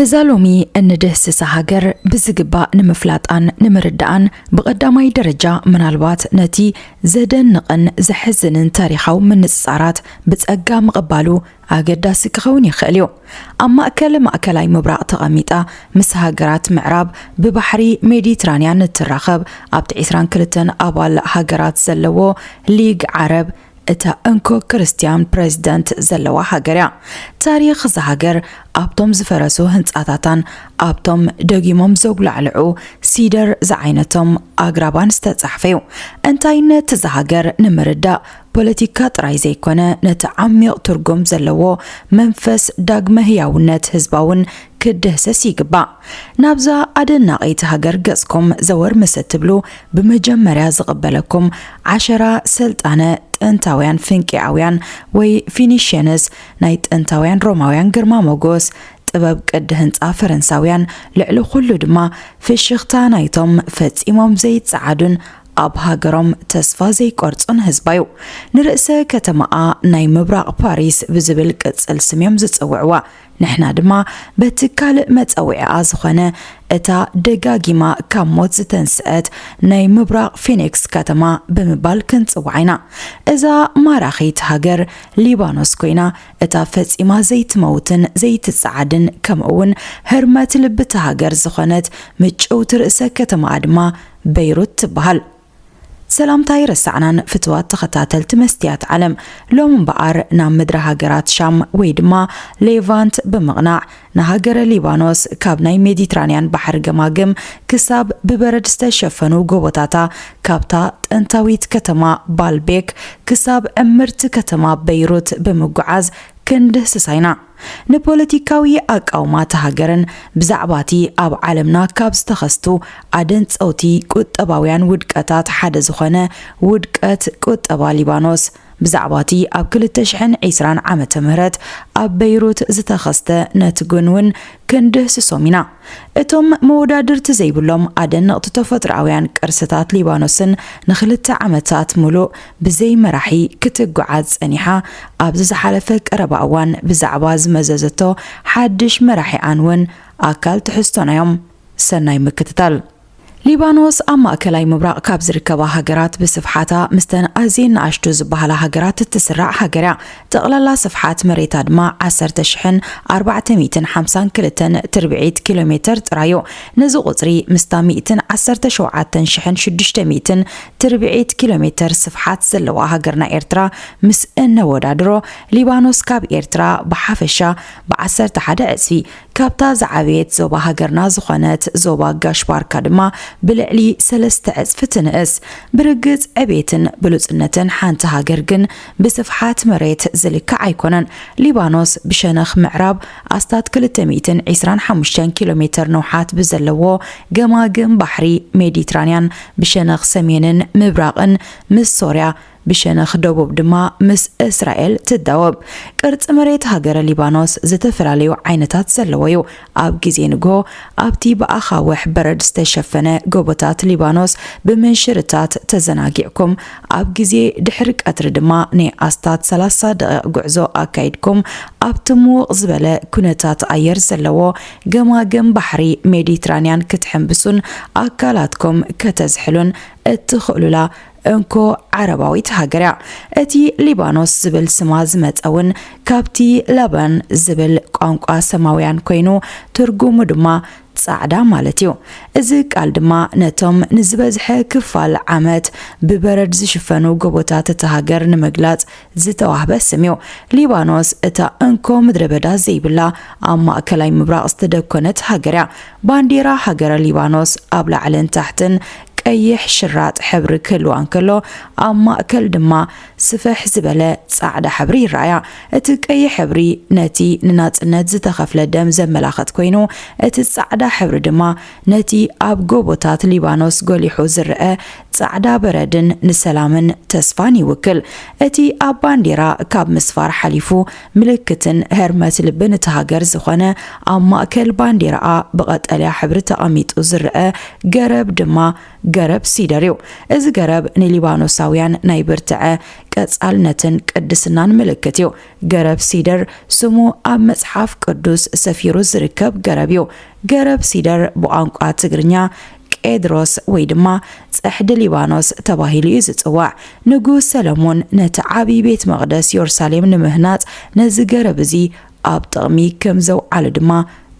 ነዛ ሎሚ እንድህስሳ ሃገር ብዝግባእ ንምፍላጣን ንምርዳኣን ብቐዳማይ ደረጃ ምናልባት ነቲ ዘደንቕን ዘሕዝንን ታሪኻዊ ምንጽጻራት ብጸጋ ምቕባሉ ኣገዳሲ ክኸውን ይኽእል እዩ። ኣብ ማእከል ማእከላይ ምብራቕ ተቐሚጣ ምስ ሃገራት ምዕራብ ብባሕሪ ሜዲትራንያን እትራኸብ ኣብቲ ዕስራን ክልተን ኣባል ሃገራት ዘለዎ ሊግ ዓረብ እታ እንኮ ክርስትያን ፕረዚደንት ዘለዋ ሃገር እያ። ታሪኽ እዛ ሃገር ኣብቶም ዝፈረሱ ህንጻታታን ኣብቶም ደጊሞም ዘጉላዕልዑ ሲደር ዝዓይነቶም ኣግራባን ዝተጻሕፈ እዩ። እንታይነት እዛ ሃገር ንምርዳእ ፖለቲካ ጥራይ ዘይኮነ ነቲ ዓሚቕ ትርጉም ዘለዎ መንፈስ ዳግመ ህያውነት ህዝባውን ክድህሰስ ይግባእ። ናብዛ ኣደናቒት ሃገር ገጽኩም ዘወር ምስ እትብሉ ብመጀመርያ ዝቕበለኩም ዓሸራ ሰልጣነ ጥንታውያን ፍንቄኣውያን ወይ ፊኒሽየንስ ናይ ጥንታውያን ሮማውያን ግርማ ሞጎስ ጥበብ ቅዲ ህንጻ ፈረንሳውያን ልዕሊ ኩሉ ድማ ፍሽኽታ ናይቶም ፈጺሞም ዘይጸዓዱን ኣብ ሃገሮም ተስፋ ዘይቆርጹን ህዝባ'ዩ። ንርእሰ ከተማኣ ናይ ምብራቕ ፓሪስ ብዝብል ቅጽል ስም'ዮም ዝጽውዕዋ። ንሕና ድማ በቲ ካልእ መጸውዒኣ ዝኾነ እታ ደጋጊማ ካብ ሞት ዝተንስኣት ናይ ምብራቕ ፊኒክስ ከተማ ብምባል ክንጽውዓ ኢና። እዛ ማራኺት ሃገር ሊባኖስ ኮይና እታ ፈጺማ ዘይትመውትን ዘይትጸዓድን ከምኡ'ውን ህርመት ልቢ'ታ ሃገር ዝኾነት ምጭውቲ ርእሰ ከተማኣ ድማ በይሩት ትበሃል። ሰላምታ ኣይረሳዕናን ፍትዋት ተኸታተልቲ መስትያት ዓለም ሎሚ እምበኣር ናብ ምድረ ሃገራት ሻም ወይ ድማ ሌቫንት ብምቕናዕ ንሃገረ ሊባኖስ ካብ ናይ ሜዲትራንያን ባሕሪ ገማግም ክሳብ ብበረድ ዝተሸፈኑ ጎቦታታ ካብታ ጥንታዊት ከተማ ባልቤክ ክሳብ ዕምርቲ ከተማ በይሩት ብምጉዓዝ ክንድህስሳ ኢና። ንፖለቲካዊ ኣቃውማ እታ ሃገርን ብዛዕባ እቲ ኣብ ዓለምና ካብ ዝተኸስቱ ኣደንጸውቲ ቁጠባውያን ውድቀታት ሓደ ዝኾነ ውድቀት ቁጠባ ሊባኖስ፣ ብዛዕባ እቲ ኣብ ክልተ ሽሕን ዕስራን ዓመተ ምህረት ኣብ በይሩት ዝተኸስተ ነትጒን እውን ክንድህስሶም ኢና። እቶም መወዳድርቲ ዘይብሎም ኣደነቕቲ ተፈጥሮኣውያን ቅርስታት ሊባኖስን ንኽልተ ዓመታት ምሉእ ብዘይ መራሒ ክትጓዓዝ ጸኒሓ ኣብዚ ዝሓለፈ ቀረባ እዋን ብዛዕባ ዝመዘዘቶ ሓድሽ መራሒኣን'ውን ኣካል ትሕዝቶና'ዮም። ሰናይ ምክትታል። ሊባኖስ ኣብ ማእከላይ ምብራቕ ካብ ዝርከባ ሃገራት ብስፍሓታ ምስተን ኣዝየን ንኣሽቱ ዝበሃላ ሃገራት እትስራዕ ሃገር እያ። ጠቕላላ ስፍሓት መሬታ ድማ ዓሰርተ ሽሕን ኣርባዕተ ሚእትን ሓምሳን ክልተን ትርብዒት ኪሎሜተር ጥራይ እዩ። ነዚ ቁጽሪ ምስታ ሚእትን ዓሰርተ ሸውዓተን ሽሕን ሽዱሽተ ሚእትን ትርብዒት ኪሎሜተር ስፍሓት ዘለዋ ሃገርና ኤርትራ ምስ እነወዳድሮ ሊባኖስ ካብ ኤርትራ ብሓፈሻ ብዓሰርተ ሓደ ዕጽፊ ካብታ ዝዓበየት ዞባ ሃገርና ዝኾነት ዞባ ጋሽ ባርካ ድማ ብልዕሊ ሰለስተ ዕጽፊ ትንእስ። ብርግጽ ዕቤትን ብሉጽነትን ሓንቲ ሃገር ግን ብስፍሓት መሬት ዝልካዕ ኣይኮነን። ሊባኖስ ብሸነኽ ምዕራብ ኣስታት ክልተ ሚእትን ዒስራን ሓሙሽተን ኪሎ ሜተር ንውሓት ብዘለዎ ገማግም ባሕሪ ሜዲትራንያን ብሸነኽ ሰሜንን ምብራቕን ምስ ሶርያ ብሸነኽ ደቡብ ድማ ምስ እስራኤል ትዳወብ። ቅርጺ መሬት ሃገረ ሊባኖስ ዝተፈላለዩ ዓይነታት ዘለዎ'ዩ። ኣብ ግዜ ንግሆ ኣብቲ ብኣኻውሕ በረድ ዝተሸፈነ ጎቦታት ሊባኖስ ብምንሽርታት ተዘናጊዕኩም፣ ኣብ ግዜ ድሕሪ ቀትሪ ድማ ናይ ኣስታት ሰላሳ ደቒቕ ጉዕዞ ኣካይድኩም ኣብቲ ምዉቕ ዝበለ ኩነታት ኣየር ዘለዎ ገማግም ባሕሪ ሜዲትራንያን ክትሕንብሱን ኣካላትኩም ከተዝሕሉን እትኽእሉላ እንኮ ዓረባዊት ሃገር እያ። እቲ ሊባኖስ ዝብል ስማ ዝመጸ እውን ካብቲ ለባን ዝብል ቋንቋ ሰማውያን ኮይኑ ትርጉሙ ድማ ጻዕዳ ማለት እዩ። እዚ ቃል ድማ ነቶም ንዝበዝሐ ክፋል ዓመት ብበረድ ዝሽፈኑ ጎቦታት እታ ሃገር ንምግላጽ ዝተዋህበ ስም እዩ። ሊባኖስ እታ እንኮ ምድረበዳ ዘይብላ ኣብ ማእከላይ ምብራቕ ዝተደኮነት ሃገር እያ። ባንዴራ ሃገረ ሊባኖስ ኣብ ላዕልን ታሕትን ቀይሕ ሽራጥ ሕብሪ ክህልዋ እንከሎ፣ ኣብ ማእከል ድማ ስፍሕ ዝበለ ጻዕዳ ሕብሪ ይረኣያ። እቲ ቀይሕ ሕብሪ ነቲ ንናጽነት ዝተኸፍለ ደም ዘመላኽት ኮይኑ፣ እቲ ጻዕዳ ሕብሪ ድማ ነቲ ኣብ ጎቦታት ሊባኖስ ጐሊሑ ዝረኣ ጻዕዳ በረድን ንሰላምን ተስፋን ይውክል። እቲ ኣብ ባንዴራ ካብ ምስፋር ሓሊፉ ምልክትን ህርመት ልብን እታ ሃገር ዝኾነ ኣብ ማእከል ባንዴራኣ ብቐጠልያ ሕብሪ ተቐሚጡ ዝረኣ ገረብ ድማ ገረብ ሲደር እዩ። እዚ ገረብ ንሊባኖሳውያን ናይ ብርትዐ፣ ቀጻልነትን ቅድስናን ምልክት እዩ። ገረብ ሲደር ስሙ ኣብ መጽሓፍ ቅዱስ ሰፊሩ ዝርከብ ገረብ እዩ። ገረብ ሲደር ብቋንቋ ትግርኛ ቄድሮስ ወይ ድማ ጽሕዲ ሊባኖስ ተባሂሉ እዩ ዝጽዋዕ። ንጉስ ሰለሞን ነቲ ዓብዪ ቤት መቕደስ ዮርሳሌም ንምህናጽ ነዚ ገረብ እዚ ኣብ ጥቕሚ ከም ዘውዓሎ ድማ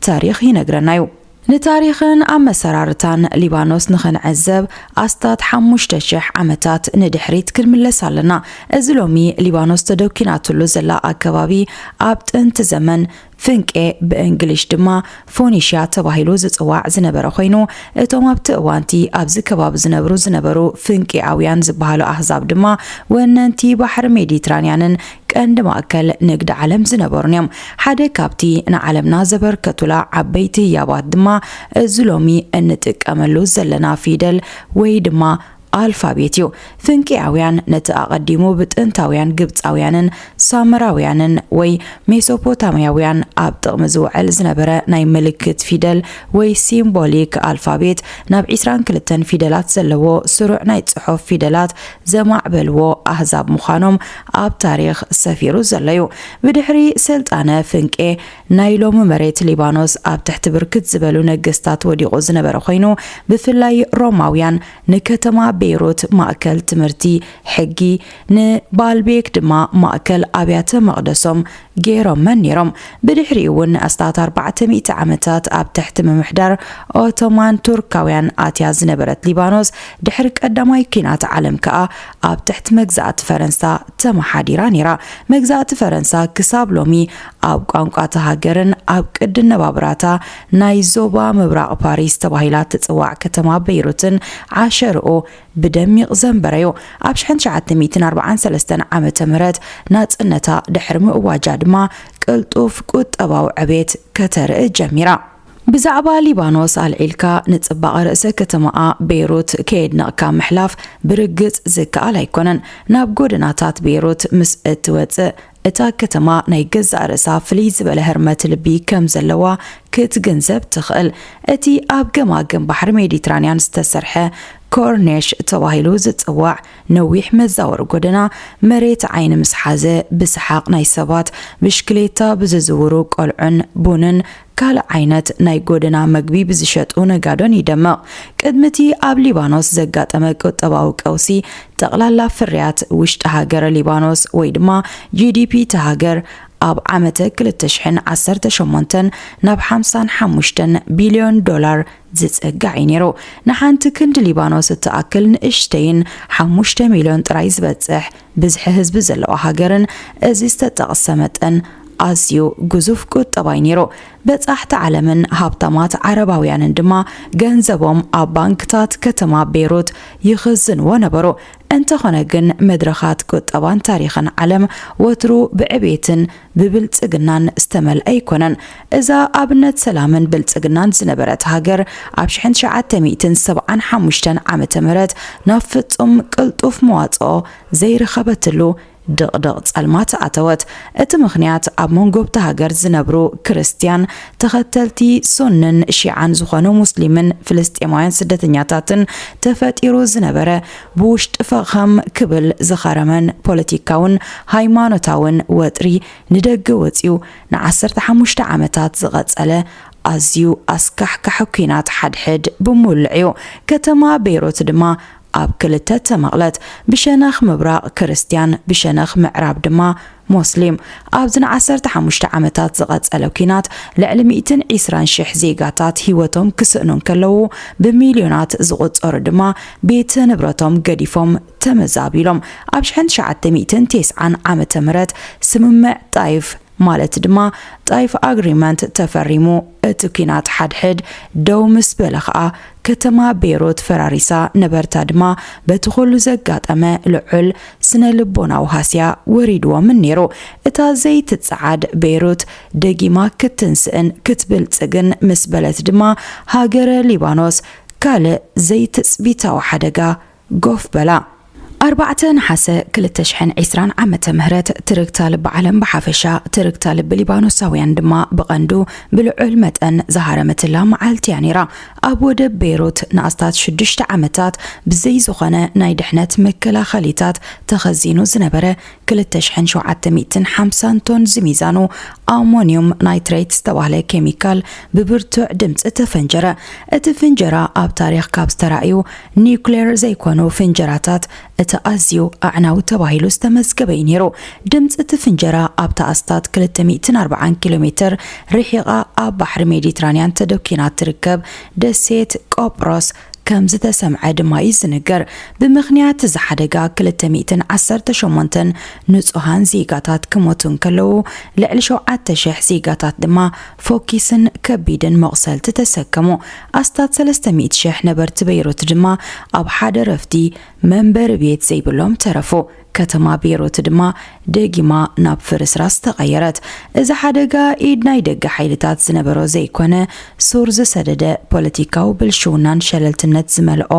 ታሪኽ ይነግረና እዩ። ንታሪኽን ኣመሰራርታን ሊባኖስ ንኽንዕዘብ ኣስታት ሓሙሽተ ሽሕ ዓመታት ንድሕሪት ክንምለስ ኣለና። እዚ ሎሚ ሊባኖስ ተደኲናትሉ ዘላ ኣከባቢ ኣብ ጥንቲ ዘመን ፍንቄ፣ ብእንግሊሽ ድማ ፎኒሽያ ተባሂሉ ዝጽዋዕ ዝነበረ ዀይኑ፣ እቶም ኣብቲ እዋን'ቲ ኣብዚ ከባቢ ዝነብሩ ዝነበሩ ፍንቄኣውያን ዝበሃሉ ኣህዛብ ድማ ወነንቲ ባሕሪ ሜዲትራንያንን ቀንዲ ማእከል ንግዲ ዓለም ዝነበሩን እዮም። ሓደ ካብቲ ንዓለምና ዘበርከቱላ ዓበይቲ ህያባት ድማ እዚ ሎሚ እንጥቀመሉ ዘለና ፊደል ወይ ድማ ኣልፋቤት እዩ። ፍንቄያውያን ነቲ ኣቐዲሙ ብጥንታውያን ግብጻውያንን ሳመራውያንን ወይ ሜሶፖታምያውያን ኣብ ጥቕሚ ዝውዕል ዝነበረ ናይ ምልክት ፊደል ወይ ሲምቦሊክ ኣልፋቤት ናብ ዕስራን ክልተን ፊደላት ዘለዎ ስሩዕ ናይ ጽሑፍ ፊደላት ዘማዕበልዎ ኣህዛብ ምዃኖም ኣብ ታሪኽ ሰፊሩ ዘሎ'ዩ። ብድሕሪ ስልጣነ ፍንቄ ናይ ሎሚ መሬት ሊባኖስ ኣብ ትሕቲ ብርክት ዝበሉ ነገስታት ወዲቑ ዝነበረ ኮይኑ፣ ብፍላይ ሮማውያን ንከተማ ቤይሩት ማእከል ትምህርቲ ሕጊ፣ ንባልቤክ ድማ ማእከል ኣብያተ መቕደሶም ገይሮመን ነይሮም። ብድሕሪኡ'ውን ንኣስታት ኣርባዕተ ሚእቲ ዓመታት ኣብ ትሕቲ ምምሕዳር ኦቶማን ቱርካውያን ኣትያ ዝነበረት ሊባኖስ፣ ድሕሪ ቀዳማይ ኲናት ዓለም ከኣ ኣብ ትሕቲ መግዛእቲ ፈረንሳ ተመሓዲራ ነይራ። መግዛእቲ ፈረንሳ ክሳብ ሎሚ ኣብ ቋንቋ እታ ሃገርን ኣብ ቅዲ ኣነባብራ'ታ ናይ ዞባ ምብራቕ ፓሪስ ተባሂላ እትጽዋዕ ከተማ በይሩትን ዓሸርኡ ብደሚቕ ዘንበረ'ዩ። ኣብ ሽሕን ትሽዓተ ሚእትን ኣርብዓን ሰለስተን ዓመተ ምህረት ናጽነታ ድሕሪ ምእዋጃ ድማ ቅልጡፍ ቁጠባዊ ዕቤት ከተርኢ ጀሚራ። ብዛዕባ ሊባኖስ ኣልዒልካ ንጽባቐ ርእሰ ከተማኣ በይሩት ከየድነቕካ ምሕላፍ ብርግጽ ዝከኣል ኣይኮነን። ናብ ጎደናታት በይሩት ምስ እትወጽእ እታ ከተማ ናይ ገዛእ ርእሳ ፍልይ ዝበለ ህርመት ልቢ ከም ዘለዋ ክትግንዘብ ትኽእል። እቲ ኣብ ገማግም ባሕሪ ሜዲትራንያን ዝተሰርሐ ኮርኔሽ ተባሂሉ ዝጽዋዕ ነዊሕ መዛወሪ ጎደና፣ መሬት ዓይኒ ምስ ሓዘ ብሰሓቕ ናይ ሰባት፣ ብሽክሌታ ብዝዝውሩ ቆልዑን ቡንን ካልእ ዓይነት ናይ ጎደና መግቢ ብዝሸጡ ነጋዶን ይደምቕ። ቅድሚ እቲ ኣብ ሊባኖስ ዘጋጠመ ቁጠባዊ ቀውሲ፣ ጠቕላላ ፍርያት ውሽጢ ሃገር ሊባኖስ ወይ ድማ GDP እታ ሃገር ኣብ ዓመተ ክልተ ሽሕን ዓሰርተ ሸሞንተን ናብ ሓምሳን ሓሙሽተን ቢልዮን ዶላር ዝጸጋዕ እዩ ነይሩ። ንሓንቲ ክንድ ሊባኖስ እትኣክል ንእሽተይን ሓሙሽተ ሚልዮን ጥራይ ዝበጽሕ ብዝሒ ህዝቢ ዘለዋ ሃገርን እዚ ዝተጠቕሰ መጠን ኣዝዩ ግዙፍ ቁጠባ'ዩ ነይሩ። በጻሕቲ ዓለምን ሃብታማት ዓረባውያንን ድማ ገንዘቦም ኣብ ባንክታት ከተማ ቤይሩት ይኽዝንዎ ነበሩ። እንተኾነ ግን መድረኻት ቁጠባን ታሪኽን ዓለም ወትሩ ብዕቤትን ብብልጽግናን ዝተመልኣ ኣይኮነን። እዛ ኣብነት ሰላምን ብልጽግናን ዝነበረት ሃገር ኣብ ሽሕን ትሽዓተ ሚእትን ሰብዓን ሓሙሽተን ዓመተ ምህረት ናብ ፍጹም ቅልጡፍ መዋጽኦ ዘይረኸበትሉ ድቕድቕ ጸልማት ኣተወት። እቲ ምኽንያት ኣብ መንጎ'ብታ ሃገር ዝነብሩ ክርስትያን ተኸተልቲ ሱንን ሺዓን ዝኾኑ ሙስሊምን ፍልስጤማውያን ስደተኛታትን ተፈጢሩ ዝነበረ ብውሽጢ ፈኸም ክብል ዝኸረመን ፖለቲካውን ሃይማኖታውን ወጥሪ ንደገ ወጺኡ ንዓሰርተ ሓሙሽተ ዓመታት ዝቐጸለ ኣዝዩ ኣስካሕካሒ ኲናት ሓድሕድ ብምውልዕ'ዩ ከተማ ቤይሩት ድማ ኣብ ክልተ ተመቕለት፣ ብሸነኽ ምብራቕ ክርስትያን ብሸነኽ ምዕራብ ድማ ሞስሊም፣ ኣብዚ ንዓሰርተ ሓሙሽተ ዓመታት ዝቐጸለ ኲናት ልዕሊ ሚእትን ዒስራን ሽሕ ዜጋታት ህይወቶም ክስእኑ እንከለዉ፣ ብሚልዮናት ዝቑጸሩ ድማ ቤት ንብረቶም ገዲፎም ተመዛቢሎም። ኣብ ሽሕን ትሽዓተ ሚእትን ቴስዓን ዓመተ ምህረት ስምምዕ ጣይፍ ማለት ድማ Taif Agreement ተፈሪሙ፣ እቲ ኲናት ሓድሕድ ደው ምስ በለ ኸኣ ከተማ ቤይሩት ፈራሪሳ ነበርታ ድማ በቲ ኹሉ ዘጋጠመ ልዑል ስነ-ልቦናዊ ሃስያ ወሪድዎምን ነይሩ። እታ ዘይትጸዓድ ቤይሩት ደጊማ ክትትንስእን ክትብልጽግን ምስ በለት ድማ ሃገረ ሊባኖስ ካልእ ዘይትጽቢታዊ ሓደጋ ጎፍ በላ! ኣርባዕተ ነሓሰ ክልተ ሽሕን ዕስራን ዓመተ ምህረት ትርግታ ልቢ ዓለም ብሓፈሻ፣ ትርግታ ልቢ ሊባኖሳውያን ድማ ብቐንዱ ብልዑል መጠን ዝሃረመትላ መዓልቲ እያ ነይራ። ኣብ ወደብ ቤይሩት ንኣስታት ሽዱሽተ ዓመታት ብዘይ ዝኾነ ናይ ድሕነት መከላኸሊታት ተኸዚኑ ዝነበረ ክልተ ሽሕን ሸውዓተ ሚእትን ሓምሳን ቶን ዝሚዛኑ ኣሞንዩም ናይትሬት ዝተባህለ ኬሚካል ብብርቱዕ ድምጺ ተፈንጀረ። እቲ ፍንጀራ ኣብ ታሪኽ ካብ ዝተራእዩ ኒዩክሌር ዘይኮኑ ፍንጀራታት እቲ ኣዝዩ ኣዕናዊ ተባሂሉ ዝተመዝገበ እዩ ነይሩ። ድምጺ እቲ ፍንጀራ ኣብታ ኣስታት ክልተ ሚእትን ኣርብዓን ኪሎ ሜተር ርሒቓ ኣብ ባሕሪ ሜዲትራንያን ተደኲና እትርከብ ደሴት ቆጵሮስ ከምዝተሰምዐ ድማ'ዩ ዝንገር። ብምኽንያት እዚ ሓደጋ ክልተ ሚእትን ዓሰርተ ሸሞንተን ንጹሃን ዜጋታት ክሞቱ እንከለዉ፣ ልዕሊ ሸውዓተ ሽሕ ዜጋታት ድማ ፎኪስን ከቢድን መቑሰልቲ ተሰከሙ። ኣስታት ሰለስተ ሚእቲ ሽሕ ነበርቲ በይሩት ድማ ኣብ ሓደ ረፍዲ መንበሪ ቤት ዘይብሎም ተረፉ። ከተማ ቤይሩት ድማ ደጊማ ናብ ፍርስራስ ተቐየረት። እዚ ሓደጋ ኢድ ናይ ደገ ሓይልታት ዝነበሮ ዘይኮነ፣ ሱር ዝሰደደ ፖለቲካዊ ብልሽውናን ሸለልትነት ዝመልኦ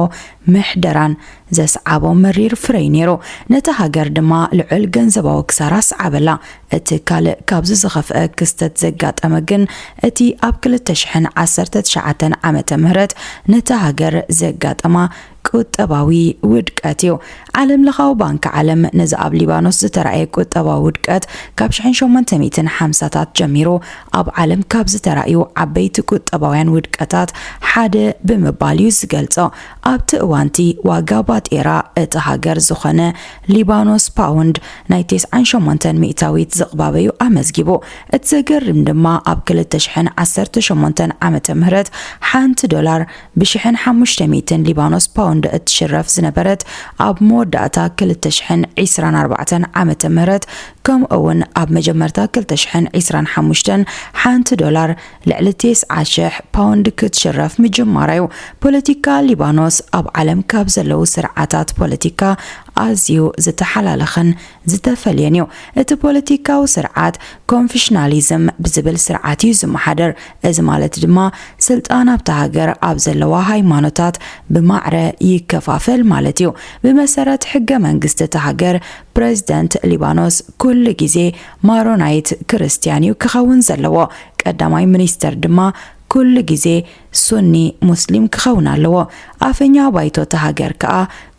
ምሕደራን ዘስዓቦ መሪር ፍረ'ዩ ነይሩ። ነታ ሃገር ድማ ልዑል ገንዘባዊ ክሳራ ኣስዓበላ። እቲ ካልእ ካብዚ ዝኸፍኣ ክስተት ዘጋጠመ ግን እቲ ኣብ ክልተ ሽሕን ዓሰርተ ትሽዓተን ዓመተ ምህረት ነታ ሃገር ዘጋጠማ ቁጠባዊ ውድቀት እዩ። ዓለምለኻዊ ባንኪ ዓለም ነዚ ኣብ ሊባኖስ ዝተራእየ ቁጠባዊ ውድቀት ካብ ሽሕን ሸሞንተ ሚእትን ሓምሳታት ጀሚሩ ኣብ ዓለም ካብ ዝተራእዩ ዓበይቲ ቁጠባውያን ውድቀታት ሓደ ብምባል እዩ ዝገልጾ። ኣብቲ እዋንቲ ዋጋ ባጤራ እታ ሃገር ዝኾነ ሊባኖስ ፓውንድ ናይ ቴስዓን ሸሞንተን ሚእታዊት ዝቕባበ እዩ ኣመዝጊቡ። እቲ ዘገርም ድማ ኣብ ክልተ ሽሕን ዓሰርተ ሸሞንተን ዓመተ ምህረት ሓንቲ ዶላር ብሽሕን ሓሙሽተ ሚእትን ሊባኖስ ፓውንድ እትሽረፍ ዝነበረት ኣብ መወዳእታ ክልተ ሽሕን ዒስራን ኣርባዕተን ዓመተ ምህረት ከምኡ'ውን ኣብ መጀመርታ ክልተ ሽሕን ዒስራን ሓሙሽተን ሓንቲ ዶላር ልዕሊ ቴስዓ ሽሕ ፓውንድ ክትሽረፍ ምጅማራ'ዩ ፖለቲካ ሊባኖስ ኣብ ዓለም ካብ ዘለዉ ስርዓታት ፖለቲካ ኣዝዩ ዝተሓላለኸን ዝተፈልየን እዩ። እቲ ፖለቲካዊ ስርዓት ኮንፊሽናሊዝም ብዝብል ስርዓት እዩ ዝመሓደር። እዚ ማለት ድማ ስልጣን ኣብታ ሃገር ኣብ ዘለዋ ሃይማኖታት ብማዕረ ይከፋፈል ማለት እዩ። ብመሰረት ሕገ መንግስቲ እታ ሃገር ፕረዚደንት ሊባኖስ ኩሉ ግዜ ማሮናይት ክርስትያን እዩ ክኸውን ዘለዎ። ቀዳማይ ሚኒስተር ድማ ኩሉ ግዜ ሱኒ ሙስሊም ክኸውን ኣለዎ ኣፈኛ ባይቶ እታ ሃገር ከኣ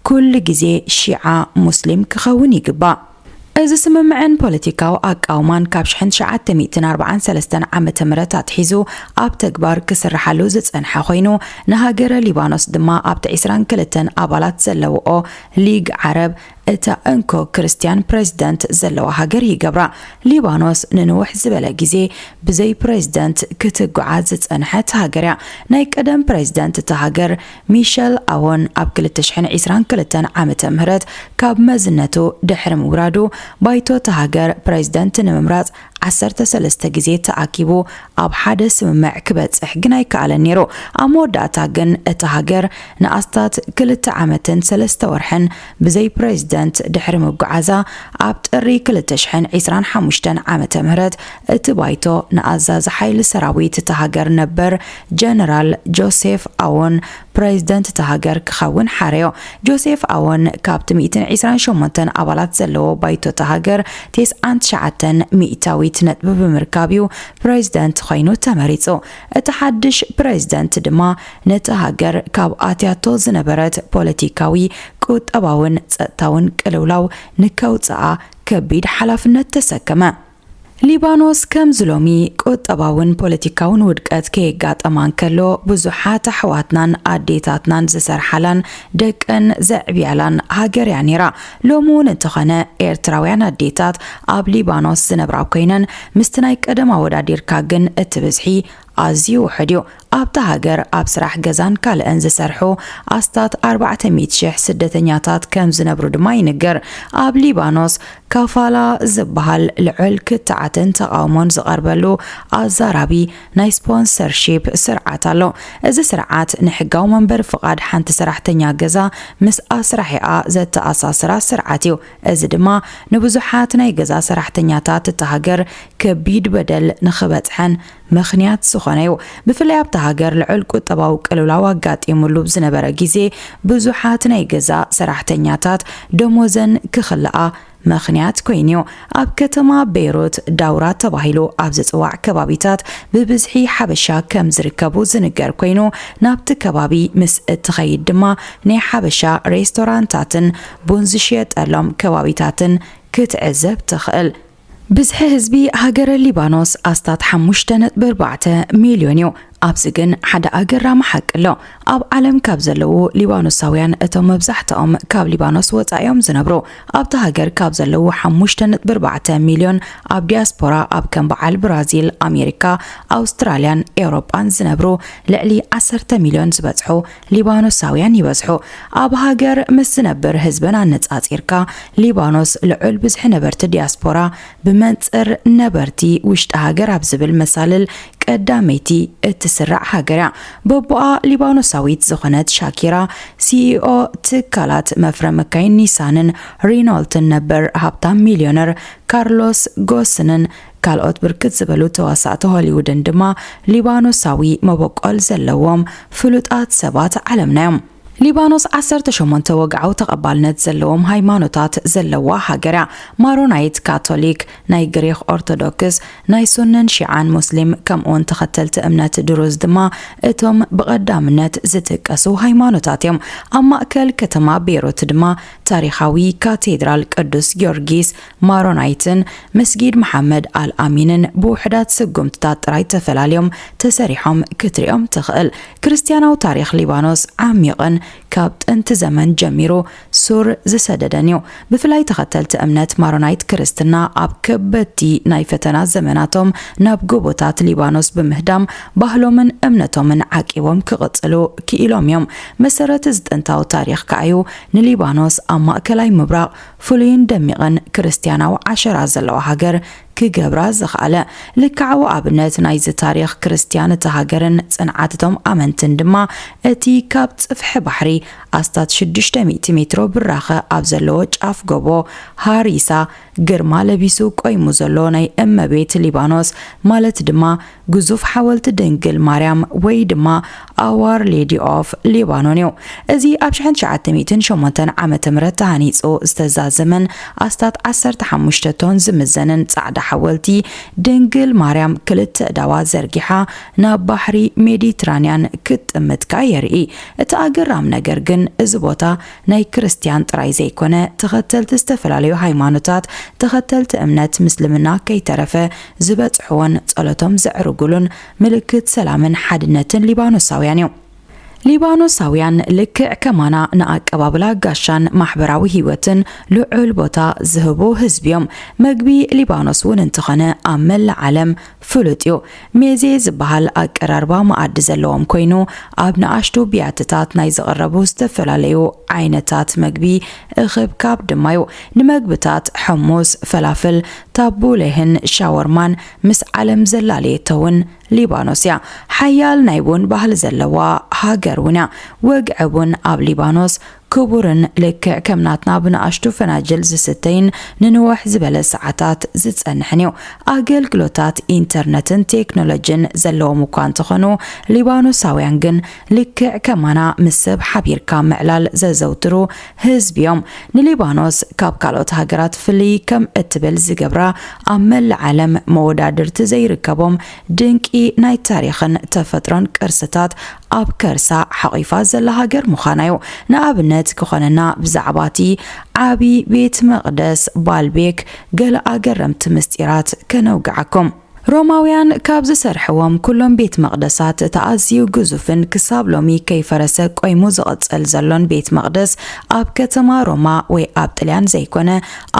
ኩሉ ግዜ ሺዓ ሙስሊም ክኸውን ይግባእ። እዚ ስምምዕን ፖለቲካዊ ኣቃውማን ካብ ሽሕን ትሽዓተ ሚእትን ኣርብዓን ሰለስተን ዓመተ ምህረት ኣትሒዙ ኣብ ተግባር ክስርሓሉ ዝጸንሐ ኮይኑ ንሃገረ ሊባኖስ ድማ ኣብቲ ዕስራን ክልተን ኣባላት ዘለውኦ ሊግ ዓረብ እታ እንኮ ክርስትያን ፕረዚደንት ዘለዋ ሃገር ይገብራ። ሊባኖስ ንንውሕ ዝበለ ግዜ ብዘይ ፕረዚደንት ክትጉዓዝ ዝጸንሐት ሃገር'ያ። ናይ ቀደም ፕረዚደንት እታ ሃገር ሚሸል ኣዎን ኣብ ክልተ ሽሕን ዒስራን ክልተን ዓመተ ምህረት ካብ መዝነቱ ድሕሪ ምውራዱ ባይቶ እታ ሃገር ፕረዚደንት ንምምራጽ ዓሰርተ ሰለስተ ግዜ ተኣኪቡ ኣብ ሓደ ስምምዕ ክበጽሕ ግን ኣይከኣለን ነይሩ። ኣብ መወዳእታ ግን እታ ሃገር ንኣስታት ክልተ ዓመትን ሰለስተ ወርሕን ብዘይ ፕረዚደንት ድሕሪ ምጉዓዛ፣ ኣብ ጥሪ ክልተ ሽሕን ዕስራን ሓሙሽተን ዓመተ ምህረት እቲ ባይቶ ንኣዛዚ ሓይሊ ሰራዊት እታ ሃገር ነበር ጀነራል ጆሴፍ ኣዎን ፕረዚደንት እታ ሃገር ክኸውን ሓረዮ። ጆሴፍ ኣዎን ካብቲ ሚእትን ዒስራን ሸሞንተን ኣባላት ዘለዎ ባይቶ እታ ሃገር ቴስዓን ትሽዓተን ሚእታዊት ነጥቢ ብምርካብ እዩ ፕረዚደንት ኾይኑ ተመሪጹ። እቲ ሓድሽ ፕረዚደንት ድማ ነታ ሃገር ካብ ኣትያቶ ዝነበረት ፖለቲካዊ፣ ቁጠባውን ጸጥታውን ቅልውላው ንከውጽኣ ከቢድ ሓላፍነት ተሰከመ። ሊባኖስ ከምዚ ሎሚ ቁጠባውን ፖለቲካውን ውድቀት ከየጋጠማ እንከሎ ብዙሓት ኣሕዋትናን ኣዴታትናን ዝሰርሓላን ደቀን ዘዕብያላን ሃገር እያ ነይራ። ሎሚ እውን እንተኾነ ኤርትራውያን ኣዴታት ኣብ ሊባኖስ ዝነብራ ኮይነን ምስቲ ናይ ቀደም ኣወዳዲርካ ግን እቲ ብዝሒ ኣዝዩ ውሑድ እዩ። ኣብታ ሃገር ኣብ ስራሕ ገዛን ካልእን ዝሰርሑ ኣስታት ኣርባዕተ ሚእቲ ሽሕ ስደተኛታት ከም ዝነብሩ ድማ ይንገር። ኣብ ሊባኖስ ካፋላ ዝበሃል ልዑል ክትዓትን ተቓውሞን ዝቐርበሉ ኣዛራቢ ናይ ስፖንሰርሺፕ ስርዓት ኣሎ። እዚ ስርዓት ንሕጋዊ መንበሪ ፍቓድ ሓንቲ ሰራሕተኛ ገዛ ምስ ኣስራሒኣ ዘተኣሳስራ ስርዓት እዩ። እዚ ድማ ንብዙሓት ናይ ገዛ ሰራሕተኛታት እታ ሃገር ከቢድ በደል ንኽበጽሐን ምኽንያት ዝኾነ'ዩ። ብፍላይ ኣብታ ሃገር ልዑል ቁጠባዊ ቅልውላው ኣጋጢሙሉ ኣብ ዝነበረ ግዜ ብዙሓት ናይ ገዛ ሰራሕተኛታት ደሞዘን ክኽልኣ ምኽንያት ኮይኑ'ዩ። ኣብ ከተማ ቤይሩት ዳውራ ተባሂሉ ኣብ ዝጽዋዕ ከባቢታት ብብዝሒ ሓበሻ ከም ዝርከቡ ዝንገር ኮይኑ ናብቲ ከባቢ ምስ እትኸይድ ድማ ናይ ሓበሻ ሬስቶራንታትን ቡን ዝሽየጠሎም ከባቢታትን ክትዕዘብ ትኽእል። ብዝሒ ህዝቢ ሃገረ ሊባኖስ ኣስታት ሓሙሽተ ነጥቢ ኣርባዕተ ሚልዮን እዩ። ኣብዚ ግን ሓደ ኣገራሚ ሓቂ ኣሎ። ኣብ ዓለም ካብ ዘለዉ ሊባኖሳውያን እቶም መብዛሕትኦም ካብ ሊባኖስ ወጻኢ እዮም ዝነብሩ። ኣብታ ሃገር ካብ ዘለዉ ሓሙሽተ ነጥቢ ኣርባዕተ ሚልዮን ኣብ ዲያስፖራ ኣብ ከም በዓል ብራዚል፣ ኣሜሪካ፣ ኣውስትራልያን ኤውሮጳን ዝነብሩ ልዕሊ ዓሰርተ ሚልዮን ዝበጽሑ ሊባኖሳውያን ይበዝሑ። ኣብ ሃገር ምስ ዝነብር ህዝበን ኣነጻጺርካ፣ ሊባኖስ ልዑል ብዝሒ ነበርቲ ዲያስፖራ ብመንጽር ነበርቲ ውሽጢ ሃገር ኣብ ዝብል መሳልል ቀዳመይቲ እትስራዕ ሃገር እያ። በቦኣ ሊባኖሳዊት ዝኾነት ሻኪራ፣ ሲኢኦ ትካላት መፍረ መካይን ኒሳንን ሪኖልትን ነበር ሃብታም ሚልዮነር ካርሎስ ጎስንን ካልኦት ብርክት ዝበሉ ተዋሳእቲ ሆሊውድን ድማ ሊባኖሳዊ መበቆል ዘለዎም ፍሉጣት ሰባት ዓለምና'ዮም። ሊባኖስ ዓሰርተ ሸሞንተ ወግዓዊ ተቐባልነት ዘለዎም ሃይማኖታት ዘለዋ ሃገር'ያ፣ ማሮናይት፣ ካቶሊክ፣ ናይ ግሪኽ ኦርቶዶክስ፣ ናይ ሱንን ሺዓን ሙስሊም ከምኡ'ውን ተኸተልቲ እምነት ድሩዝ ድማ እቶም ብቐዳምነት ዝጥቀሱ ሃይማኖታት'ዮም። ኣብ ማእከል ከተማ ቤይሩት ድማ ታሪኻዊ ካቴድራል ቅዱስ ጊዮርጊስ ማሮናይትን መስጊድ መሓመድ ኣል ኣሚንን ብውሑዳት ስጉምትታት ጥራይ ተፈላልዮም ተሰሪሖም ክትሪኦም ትኽእል። ክርስትያናዊ ታሪኽ ሊባኖስ ዓሚቕን ካብ ጥንቲ ዘመን ጀሚሩ ሱር ዝሰደደን እዩ። ብፍላይ ተኸተልቲ እምነት ማሮናይት ክርስትና ኣብ ከበድቲ ናይ ፈተና ዘመናቶም ናብ ጎቦታት ሊባኖስ ብምህዳም ባህሎምን እምነቶምን ዓቂቦም ክቕጽሉ ክኢሎም እዮም። መሰረት እዚ ጥንታዊ ታሪኽ ከኣዩ ንሊባኖስ ኣብ ማእከላይ ምብራቕ ፍሉይን ደሚቕን ክርስትያናዊ ዓሸራ ዘለዋ ሃገር ክገብራ ዝኸኣለ ልክዓዊ ኣብነት ናይዚ ታሪኽ ክርስትያን እታ ሃገርን ጽንዓት እቶም ኣመንትን ድማ እቲ ካብ ጽፍሒ ባሕሪ ኣስታት ሽዱሽተ ሚእቲ ሜትሮ ብራኸ ኣብ ዘለዎ ጫፍ ጎቦ ሃሪሳ ግርማ ለቢሱ ቆይሙ ዘሎ ናይ እመቤት ሊባኖስ ማለት ድማ ግዙፍ ሓወልቲ ድንግል ማርያም ወይ ድማ ኣዋር ሌዲ ኦፍ ሊባኖን እዩ። እዚ ኣብ ሽሕን ትሽዓተ ሚእትን ሸሞንተን ዓመተ ምህረት ተሃኒጹ ዝተዛዘመን ኣስታት ዓሰርተ ሓሙሽተ ቶን ዝምዘንን ጻዕዳ ሓወልቲ ድንግል ማርያም ክልተ ኣእዳዋ ዘርጊሓ ናብ ባሕሪ ሜዲትራንያን ክትጥምት ከኣ የርኢ። እቲ ኣገራም ነገር ግን እዚ ቦታ ናይ ክርስትያን ጥራይ ዘይኮነ ተኸተልቲ ዝተፈላለዩ ሃይማኖታት ተኸተልቲ እምነት ምስልምና ከይተረፈ ዝበጽሕዎን ጸሎቶም ዘዕርጉሉን ምልክት ሰላምን ሓድነትን ሊባኖሳውያን እዮም። ሊባኖሳውያን ልክዕ ከማና ንኣቀባብላ ጋሻን ማሕበራዊ ህይወትን ልዑል ቦታ ዝህቡ ህዝቢ እዮም። መግቢ ሊባኖስ እውን እንተኾነ ኣብ መላእ ዓለም ፍሉጥ እዩ። ሜዜ ዝበሃል ኣቀራርባ መኣዲ ዘለዎም ኮይኑ ኣብ ንኣሽቱ ብያትታት ናይ ዝቕረቡ ዝተፈላለዩ ዓይነታት መግቢ እኽብካብ ድማ እዩ። ንመግብታት ሕሙስ፣ ፈላፍል፣ ታቡሌህን ሻወርማን ምስ ዓለም ዘላለየቶ ውን ሊባኖስ እያ። ሓያል ናይ ቡን ባህሊ ዘለዋ ሃገር ውን እያ። ወግዒ ቡን ኣብ ሊባኖስ ክቡርን ልክዕ ከም ናትና ብንኣሽቱ ፈናጅል ዝስተይን ንንውሕ ዝበለ ሰዓታት ዝጸንሕን እዩ። ኣገልግሎታት ኢንተርነትን ቴክኖሎጂን ዘለዎም እኳ እንተኾኑ፣ ሊባኖሳውያን ግን ልክዕ ከማና ምስ ሰብ ሓቢርካ ምዕላል ዘዘውትሩ ህዝቢ'ዮም ንሊባኖስ ካብ ካልኦት ሃገራት ፍልይ ከም እትብል ዝገብራ፣ ኣብ መላእ ዓለም መወዳድርቲ ዘይርከቦም ድንቂ ናይ ታሪኽን ተፈጥሮን ቅርስታት ኣብ ከርሳ ሓቚፋ ዘላ ሃገር ምዃና'ዩ። ንኣብነት ክኾነና ብዛዕባ'ቲ ዓቢ ቤት መቕደስ ባልቤክ ገለ ኣገረምቲ ምስጢራት ከነውግዓኩም። ሮማውያን ካብ ዝሰርሕዎም ኵሎም ቤት መቕደሳት፣ እቲ ኣዝዩ ግዙፍን ክሳብ ሎሚ ከይፈረሰ ቈይሙ ዝቕጽል ዘሎን ቤት መቕደስ ኣብ ከተማ ሮማ ወይ ኣብ ጥልያን ዘይኰነ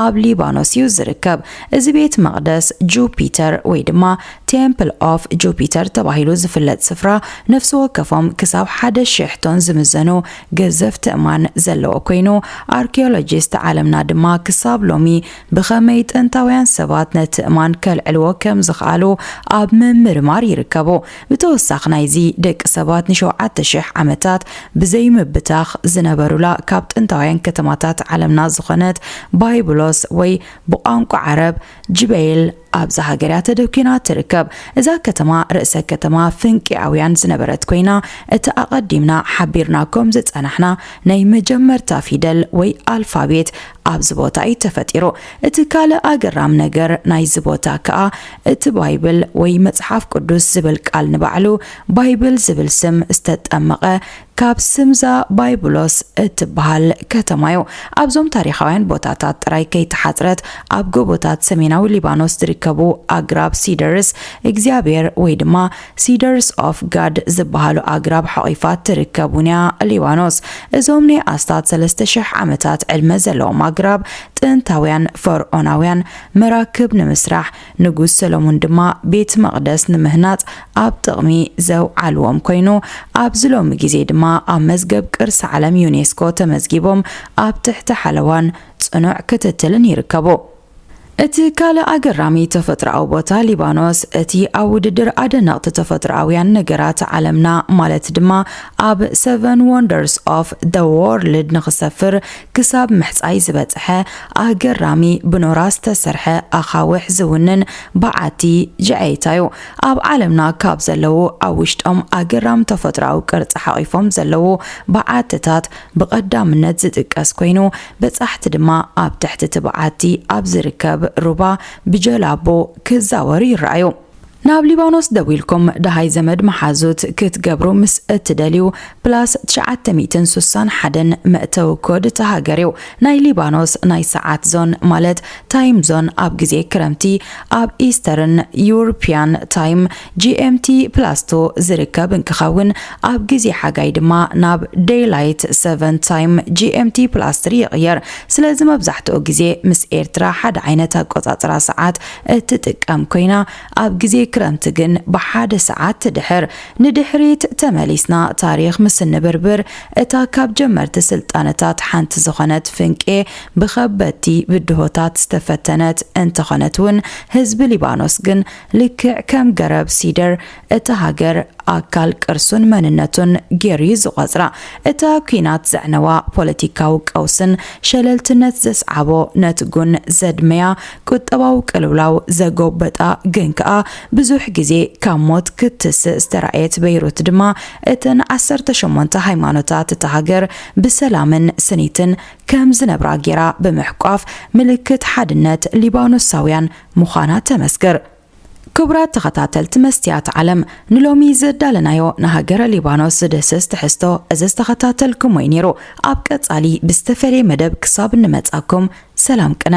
ኣብ ሊባኖስ ኢዩ ዝርከብ። እዚ ቤት መቕደስ ጁፒተር ወይ ድማ ቴምፕል ኦፍ ጁፒተር ተባሂሉ ዝፍለጥ ስፍራ ነፍሲ ወከፎም ክሳብ ሓደ ሽሕ ቶን ዝምዘኑ ገዘፍቲ እማን ዘለዎ ኰይኑ ኣርኪዮሎጂስት ዓለምና ድማ ክሳብ ሎሚ ብኸመይ ጥንታውያን ሰባት ነቲ እማን ከልዕልዎ ከም ዝኸኣሉ ኣብ ምምርማር ይርከቡ። ብተወሳኺ ናይዚ፣ ደቂ ሰባት ንሸውዓተ ሽሕ ዓመታት ብዘይምብታኽ ዝነበሩላ ካብ ጥንታውያን ከተማታት ዓለምና ዝኾነት ባይብሎስ ወይ ብቋንቋ ዓረብ ጅበይል፣ ኣብዛ ሃገር እያ ተደኲና እትርከብ። እዛ ከተማ ርእሰ ከተማ ፍንቄኣውያን ዝነበረት ኰይና፣ እቲ ኣቐዲምና ሓቢርናኩም ዝጸናሕና ናይ መጀመርታ ፊደል ወይ ኣልፋቤት ኣብዚ ቦታ እዩ ተፈጢሩ። እቲ ካልእ ኣገራም ነገር ናይዚ ቦታ ከኣ እቲ ባይብል ወይ መጽሓፍ ቅዱስ ዝብል ቃል ንባዕሉ ባይብል ዝብል ስም ዝተጠመቐ ካብ ስምዛ ባይብሎስ እትበሃል ከተማ እዩ። ኣብዞም ታሪኻውያን ቦታታት ጥራይ ከይተሓጽረት፣ ኣብ ጎቦታት ሰሜናዊ ሊባኖስ ዝርከቡ ኣግራብ ሲደርስ እግዚኣብሄር ወይ ድማ ሲደርስ ኦፍ ጋድ ዝበሃሉ ኣግራብ ሓቚፋ ትርከብ እውን እያ ሊባኖስ። እዞም ናይ ኣስታት ሰለስተ ሽሕ ዓመታት ዕድመ ዘለዎም ኣግራብ፣ ጥንታውያን ፈርዖናውያን መራክብ ንምስራሕ ንጉስ ሰሎሞን ድማ ቤት መቕደስ ንምህናጽ ኣብ ጥቕሚ ዘውዓልዎም ኮይኑ፣ ኣብዚ ሎሚ ግዜ ድማ ኣብ መዝገብ ቅርሲ ዓለም ዩኔስኮ ተመዝጊቦም ኣብ ትሕቲ ሓለዋን ጽኑዕ ክትትልን ይርከቡ። እቲ ካልእ ኣገራሚ ተፈጥሮኣዊ ቦታ ሊባኖስ፣ እቲ ኣብ ውድድር ኣደነቕቲ ተፈጥሮኣውያን ነገራት ዓለምና ማለት ድማ ኣብ Seven Wonders of the World ንኽሰፍር ክሳብ ምሕጻይ ዝበጸሐ ኣገራሚ ብኖራ ዝተሰርሐ ኣኻውሕ ዝውንን በዓቲ ጀዐይታ'ዩ። ኣብ ዓለምና ካብ ዘለዉ ኣብ ውሽጦም ኣገራም ተፈጥሮኣዊ ቅርጺ ሓቚፎም ዘለዉ በዓትታት ብቐዳምነት ዝጥቀስ ኮይኑ፣ በጻሕቲ ድማ ኣብ ትሕቲ'ቲ በዓቲ ኣብ ዝርከብ ሩባ ብጀላቡ ክዛወሩ ይረኣዩ። ናብ ሊባኖስ ደዊልኩም ደሃይ ዘመድ መሓዙት ክትገብሩ ምስ እትደልዩ ፕላስ ትሽዓተ ሚእትን ሱሳን ሓደን መእተዊ ኮድ እታ ሃገር እዩ። ናይ ሊባኖስ ናይ ሰዓት ዞን ማለት ታይም ዞን ኣብ ግዜ ክረምቲ ኣብ ኢስተርን ዩርፕያን ታይም፣ GMT plus two፣ ዝርከብ እንክኸውን ኣብ ግዜ ሓጋይ ድማ ናብ ደይላይት ሰቨን ታይም፣ GMT plus three፣ ይቕየር። ስለዚ መብዛሕትኡ ግዜ ምስ ኤርትራ ሓደ ዓይነት ኣቆጻጽራ ሰዓት እትጥቀም ኮይና ኣብ ግዜ ክረምቲ ግን ብሓደ ሰዓት ድሕር ንድሕሪት ተመሊስና ታሪኽ ምስ እንብርብር እታ ካብ ጀመርቲ ስልጣነታት ሓንቲ ዝኾነት ፍንቄ ብኸበድቲ ብድሆታት ዝተፈተነት እንተኾነትውን ህዝቢ ሊባኖስ ግን ልክዕ ከም ገረብ ሲደር እቲ ሃገር ኣካል ቅርሱን መንነቱን ጌሩ'ዩ ዝቖጽራ። እታ ኲናት ዘዕነዋ ፖለቲካዊ ቀውስን ሸለልትነት ዘስዓቦ ነትጉን ዘድመያ ቁጠባዊ ቅልውላው ዘጎበጣ ግን ከኣ ብዙሕ ግዜ ካብ ሞት ክትትስእ ዝተራእየት በይሩት ድማ እተን ዓሰርተ ሸሞንተ ሃይማኖታት እታ ሃገር ብሰላምን ስኒትን ከም ዝነብራ ጌራ ብምሕቋፍ ምልክት ሓድነት ሊባኖሳውያን ምዃና ተመስክር። ክቡራት ተኸታተልቲ መስትያት ዓለም ንሎሚ ዘዳለናዮ ንሃገረ ሊባኖስ ዝድህስስ ትሕዝቶ እዚ ዝተኸታተልክሞ እዩ ነይሩ። ኣብ ቀጻሊ ብዝተፈልየ መደብ ክሳብ እንመጻኩም ሰላም ቅነ።